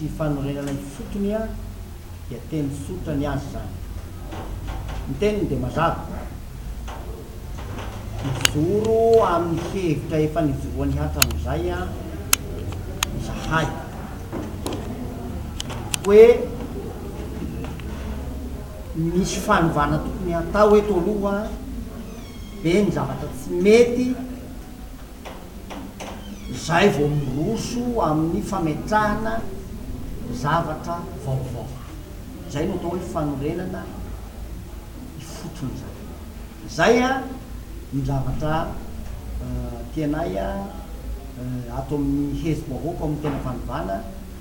sy fanorenana ifotony dia teny tsotra ny azy izany. Ny teniny dia mazava. Mijoro amin'ny hevitra efa nijoroany hatramin'izay izahay hoe misy fanovana tokony hatao eto aloha, be ny zavatra tsy mety, izay vao miroso amin'ny fametrahana zavatra vaovao. Izay no atao hoe fanorenana ifotony izany. Izay no zavatra tianay ato amin'ny hetsi-bahoaka amin'ny tena fanovana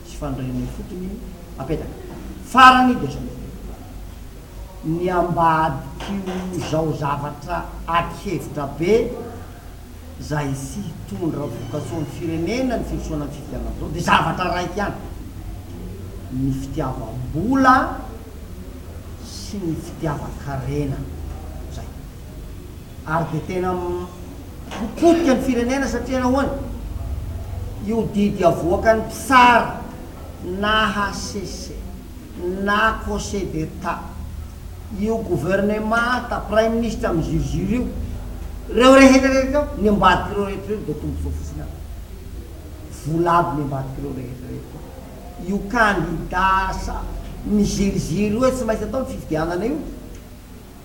sy fanorenana ifotony apetaka. Farany dia izao, ny ambadik'io izao zavatra ady hevitra be, Izay tsy hitondra vokatsoa amin'ny firenena ny firosoana amin'ny fifidianana amin'izao dia zavatra raika ihany, ny fitiavam-bola sy ny fitiavan-karena. Izay. Ary dia tena ho potika ny firenena satria nahoana? Io didy avoakan'ny mpitsara na hcc. na Conseil d'Etat, io governemanta, praiminisitra miziriziry io, ireo rehetra rehetra ireo, ny ambadik'ireo rehetra ireo dia tombotsoa fotsiny aby. Vola aby ny ambadik'ireo rehetra rehetra ireo. Io kandida sa miziriziry hoe tsy maintsy atao ny fifidianana io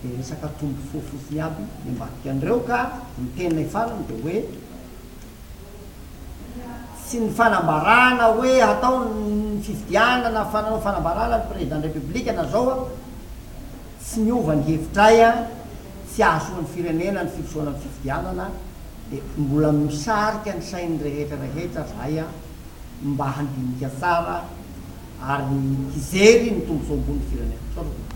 dia resaka tombotsoa fotsiny aby ny ambadikan'ireo ka ny teniny farany dia hoe, sy ny fanambarana hoe hatao ny fifidianana fa nanao fanambarana ny Président de la République na zao an, tsy miova ny hevitray an, tsy ahasoa ny firenena ny firosoana ny fifidianana de mbola misarika ny sain'ny rehetra rehetra zahay an, mba handinika tsara ary hijery ny tombontsoa ambony ny firenena. Misaotra tompoko.